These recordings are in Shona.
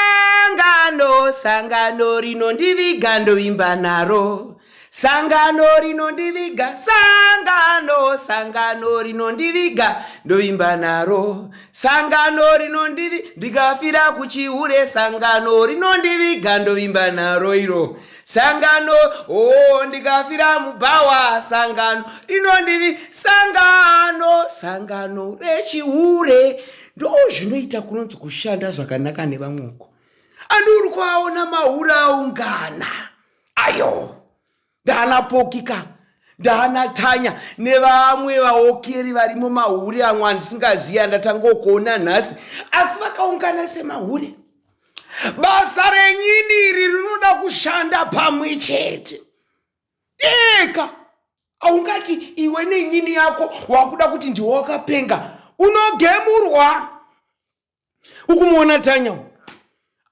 Sangano, sangano rinondiviga ndovimba naro. Sangano rinondiviga, sangano, sangano rinondiviga ndovimba naro. Sangano rinondivi ndikafira kuchihure, sangano rinondiviga ndovimba naro iro. Sangano, oh ndikafira mubhawa, sangano rinondivi, sangano, sangano rechihure. ndozvinoita kunonzi kushanda zvakanaka nevamwe uko andi uri kuaona mahure aungana ayo ndaana pokika ndaana tanya nevamwe vaokeri varimo mahure amwe andisingazivi andatangokuona nhasi asi vakaungana semahure basa renyini iri rinoda kushanda pamwe chete iyeka aungati iwe neinini yako wakuda kuti ndiwe wakapenga unogemurwa ukumuona tanya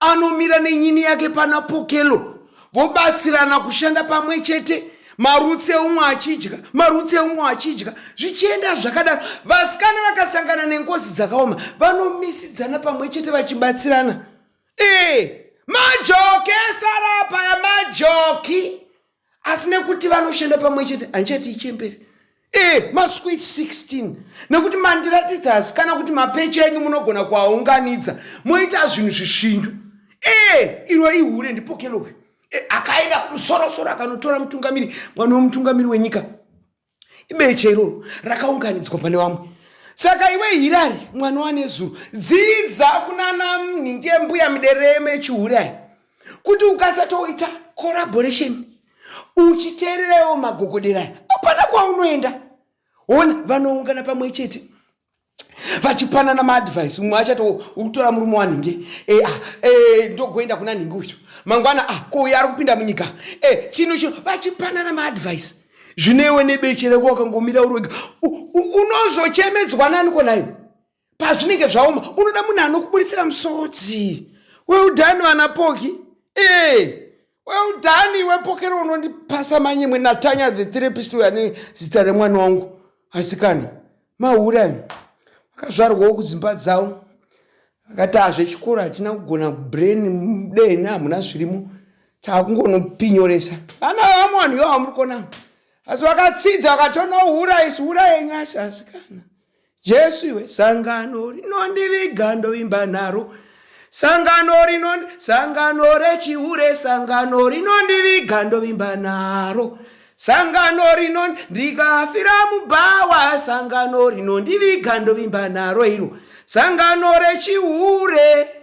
anomira nenyini yake pana pokelo vobatsirana kushanda pamwe chete marutsi eumwe achidya marutsi eumwe achidya zvichienda zvakadaro vasikana vakasangana nengozi dzakaoma vanomisidzana pamwe chete vachibatsirana Eh, majoki esarapa ya majoki asi nekuti vanoshanda pamwe chete handichati ichemberi Eh, maswit 16 nekuti mandiratidzasi kana kuti mapecha enyu munogona kuaunganidza moita zvinhu zvishindu Eh, iro ihure ndipokelowe Eh, akaenda kumusorosoro akanotora mutungamiri mwana wemutungamiri wenyika ibeche iroro rakaunganidzwa pane vamwe saka iwe hirari mwana wanezuro dzidza kunana mhinge mbuya midereme chihure ayi kuti ukasatoita collaboration uchiteererewo magogodera hapana kwaunoenda hona vanoungana pamwe chete vachipanana maadvice mumwe achato ukutora murume wanhinge e, ah, e, ndogoenda kuna nhingi uyu mangwana ah, ko uyo ari kupinda munyika e, chino chino vachipanana maadvice zvinewe nebeche reko wakangomira urwega unozochemedzwa naniko nayo pazvinenge zvaoma unoda munhu anokuburitsira musodzi weudhani vana poki ee well done iwe pokero unondipasa manyemwe natanya the therapist uyo ane zita remwana wangu asikana maura akazvarwawo kudzimba dzavo akati azvechikoro hatina kugona brain dehena hamuna zvirimo takungonopinyoresa vana vamwe vanhu yo vamuri kuona asi vakatsidza vakatonohura isi hura yenyu asi asikana Jesu iwe sangano rinondiviga ndovimba naro sangano rino sangano rechihure sangano rinondiviga ndovimba naro sangano rino ndikafira mubhawa sangano rinondiviga ndovimba naro iro sangano rechihure